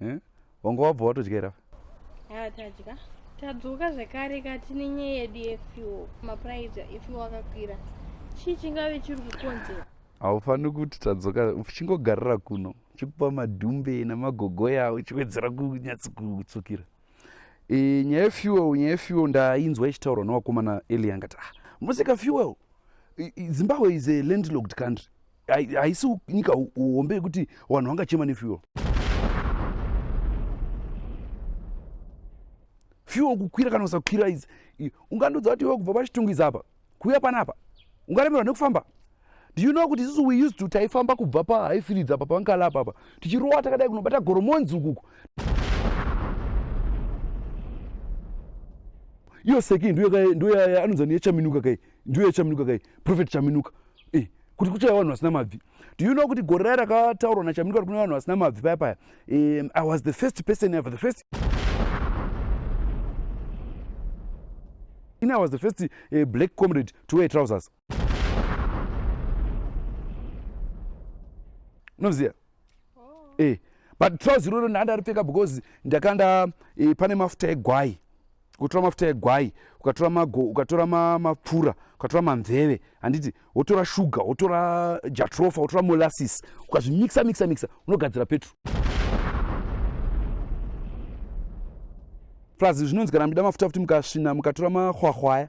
eh? wanga wabva watodyera haa ah, tadya tadzoka zvekare kati nenyaya yedu yefuel mapuraizi efuel akakwira chii chingave chiri kukonzera haufaniri kuti tadzoka uchingogarira kuno chikupa madhumbe namagogoya uchiwedzera kunyatsi kutsukira e, nyaya yefuel nyaya yefuel ndainzwa ichitaurwa newakomana eliangati ah, musika fuel zimbabwe is a landlocked country haisi nyika hombe yekuti vanhu vangachema nefuel fuel kukwira kana kusakwira izi ungandodza kuti iwe kubva pachitungu izi apa kuuya panapa ungaremerwa nekufamba do you know kuti isusu we used to taifamba kubva pahaifilidzi apa pankala apa apa tichirowa takadai kunobata goromonzi ukuku iyo seki ndoyaya anonzi niyechaminuka kai ndiyo yachaminuka kai profet chaminuka eh, kuti kuchaya vanhu vasina mabvi do you know kuti gore raya rakataurwa nachaminuka kuti kune vanhu vasina mabvi paya paya um, i was the first person ever the first in i was the first uh, black comrade to wear trousers unoziva oh. eh, but trousi iroro ndandaripfeka because ndakanda eh, pane mafuta egwai ukatora mafuta egwai ukatora mago ukatora mapfura ukatora mamveve handiti wotora shuga wotora jatrofa wotora molasis ukazvimikisa mikisa mikisa unogadzira petro plus zvinonzi kana muchida mafuta futi mukasvina mukatora mahwahwaya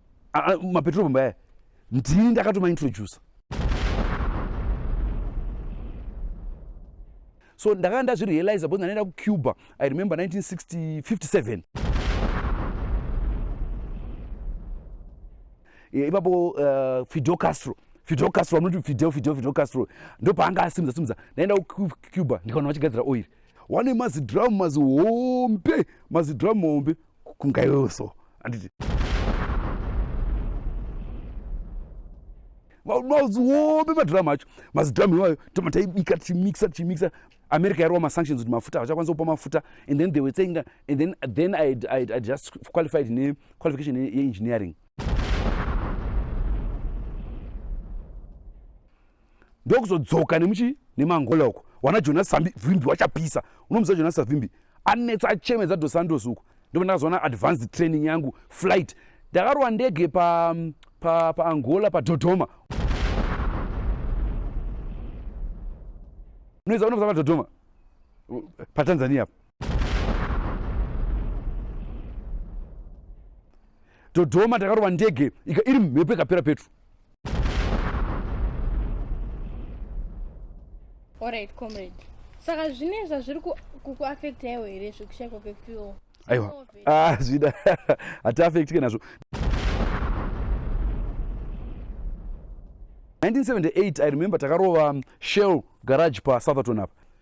Ah, ah, mapetrol bomb aya ndini ndakatomaintroducer so ndakanga ndazvirealiza because ndanoenda kucuba i remember 1957 eh, ipapo uh, fidel castro fidel castro vamunoti fidel fidel fidel castro ndopaanga asimudza simudza ndaenda kucuba ndikaona vachigadzira oiri wane mazidhiramu mazihombe mazidhiramu hombe kunga iwewo so anditi mazihobe madhiramu acho mazidhamu iwayo toma taibika tichimixa tichimixa america yarova masanctions kuti mafuta havachakwanisa kupa mafuta and then they were saying that and then, then I, I, I just qualified nequalification yeengineering ndokuzodzoka nemuchi nemangola uko wana jonas savimbi wachapisa unomuziva jonas savimbi anetsa achemedza dos santos uko ndipo ndakazoona advanced training yangu flight ndakarova ndege paangola pa, pa, pa padodoma unoziva unomuziva padodoma patanzania pa dodoma takarova ndege iri mhepo ikapera petro orit comrade saka zvine zvazviri kukuafekta iwo here zvekushaikwa kwefuel aiwa ah, zvida hatiafektike nazvo 1978 i remember takarova shell garage pasouth aton apa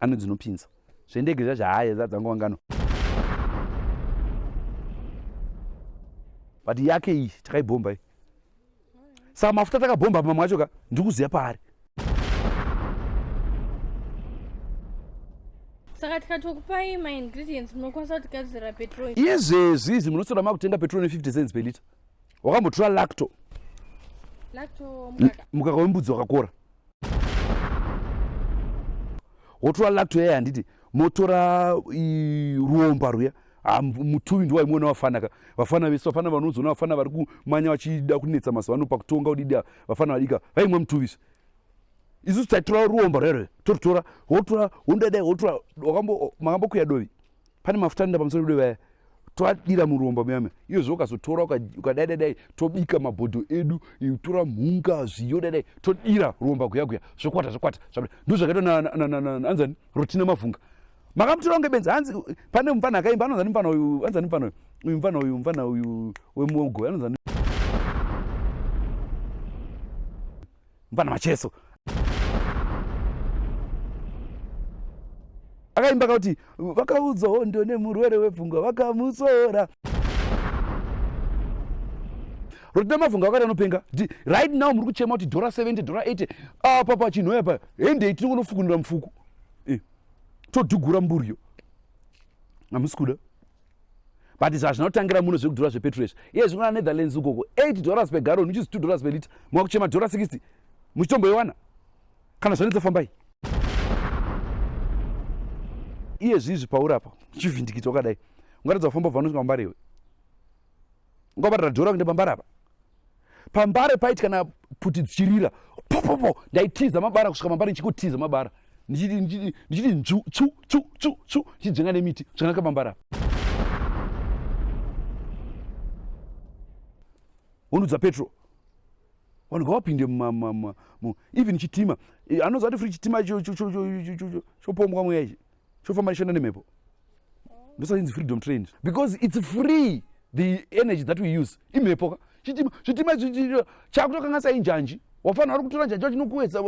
ano dzinopinza zvendege zvacho haye zadzangowangano but yake iyi takaibhomba iyi saka mafuta takabhomba pamwe acho ka ndiri kuziva paari saka tikatokupai maingredients munokwanisa kuti gadzira petrol izvezvi izvi munotora makutenga petrol ne 50 cents pelita wakambotura lacto mukaka wembudzi wakakora wotora lacto yaya handiti motora ruomba ruya ah, mutuvi ndiwa imwe wavafanaka vafana vese vafana vanozoona vafana vari kumanya vachida kunetsa mazuva ano pakutonga udidi vafana vadika vaimwe mutuvisi isusu taitora ruomba rere torutora wotora wondadai wotora makambokuya dovi pane mafuta anoenda pamusoro pedu vaya toadira muromba muyame iyo zvo ukazotora ukadai dai dai tobika mabhodho edu tora mhunga zviyo dai dai todira romba guya guya zvokwata zvokwata ndo zvakaitwa naanzani rotina mavhunga makamutora kunge benzi hanzi pane mupfana akaimba anonzani mupfana uyu anzani mupfana uyu uyu mupfana uyu mupfana uyu wemuogo anonzani mvana macheso akaimba kakuti vakaudza hondo nemurwere wepfungwa vakamutsora rotina mavhunga vakati anopenga ti right now muri kuchema kuti dhora 70 dhora 80 apa pachinhoya pa hendei tinongonofukunura mufuku eh, todhugura mburiyo hamusi kuda but zvazvinotangira muno zvekudhura zvepetro izvi iye zvino anetherlands ukoko 8 dollars pegaroni which is 2 dollars pelita mwakuchema dhora 60 muchitomboiwana kana zvanetsa fambai iye zvizvi pauri apa uchivhindikita wakadai ungaratidza kufamba bva unosvika mumbarewe ngova radhora kuenda pambare apa pambare paiti kana pfuti dzichirira popopo ndaitiza mabara kusvika pambare ndichikotiza mabara ndichiti nzvu tsu tsu tsu tsu ndichidzvenga nemiti zvakanaka pambare apa wonudza petro vanhu ngavapinde even chitima eh, anozati fri chitima chopombwa mweya ichi chofamba nishanda nemhepo ndosaka inzi freedom train because its free the energy that we use imhepo ka chitima chitima chakutokanga sai njanji wafanira uri kutora njanji wachinokuedza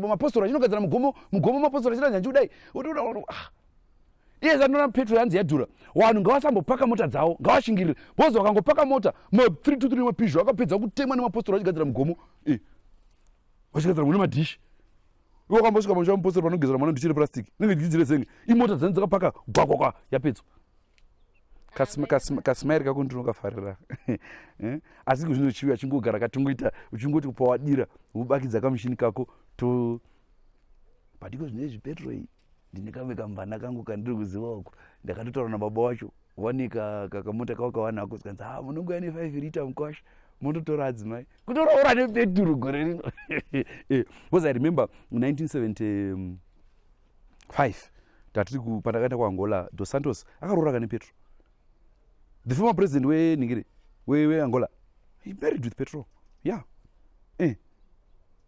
mapostora chinogadzira mugomo mugomo mapostora chita njanji kudai ah. iye zandona petro yanzi yadhura vanhu ngavasambopaka mota dzavo ngavashingirire bhozi vakangopaka mota ma 323 nemapizho akapedza kutemwa nemapostora vachigadzira mugomo eh. vachigadzira mune madhishi iwe wakambosvika pamusha mupostori panogezera mwana ndichiri plastic nenge ndichidzire zenge imota dzani dzakapaka gwakwakwa yapedzwa kasimairi kako ndinokafarira eh? asi kuzvino chivi achingogara katingoita uchingoti kupawadira ubakidza kamushini kako to padiko zvine zvipetroi ndine kamwe kamvana kangu kandiri kuziva uko ndakatotaura nababa wacho wanika kakamota kavo kawanako zikanzi ha ah, munongouya nefive rita mukwasha mototora adzimai kutoroora nepeturu gore rino eh, because i remember 1975 tatiri pandakaenda kuangola dos santos akaroora kane petro the former president weningiri weangola he married with petro yeah eh.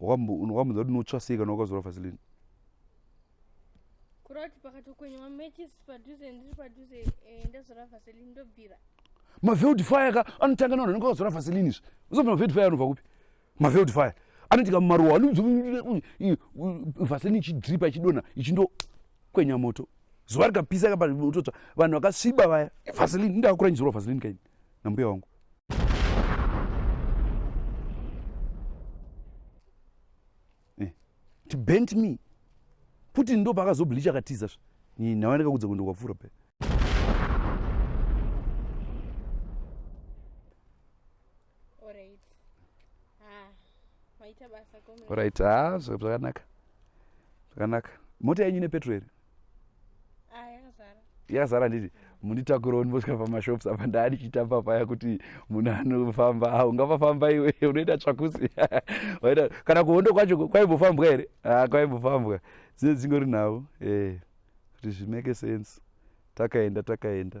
wakamboza kuti notsva sei kana wakazora vasilini maveld fire ka anotanga navanhu anenge akazora vasilini izvi uzobva maveld fire anobva kupi maveld fire anoitika mumaruwa vasilini ichidripa ichidonha ichindo kwenya moto zuva rikapisa kapaototsva vanhu vakasviba vaya vasilini ndakuranyizirwa vasilini kaini nambuya wangu eh, ti bent me puti ndo paakazobleacha akatiza sva nhawa ndakakudza kuenda kwapfuura pe orit ah, ah zvakanaka zvakanaka mota yenyu nepetro here ah, yakazara yakazara handiti munditakurewo ndimbosvika pamashops apa ndaa ndichitamba paya kuti munhu anofamba ah, ungapafamba iwe unoita tsvakusi waita kana kuhondo kwacho kwaimbofambwa here ah, kwaimbofambwa dzine dzingori nhau eh, kuti zvimake sense takaenda takaenda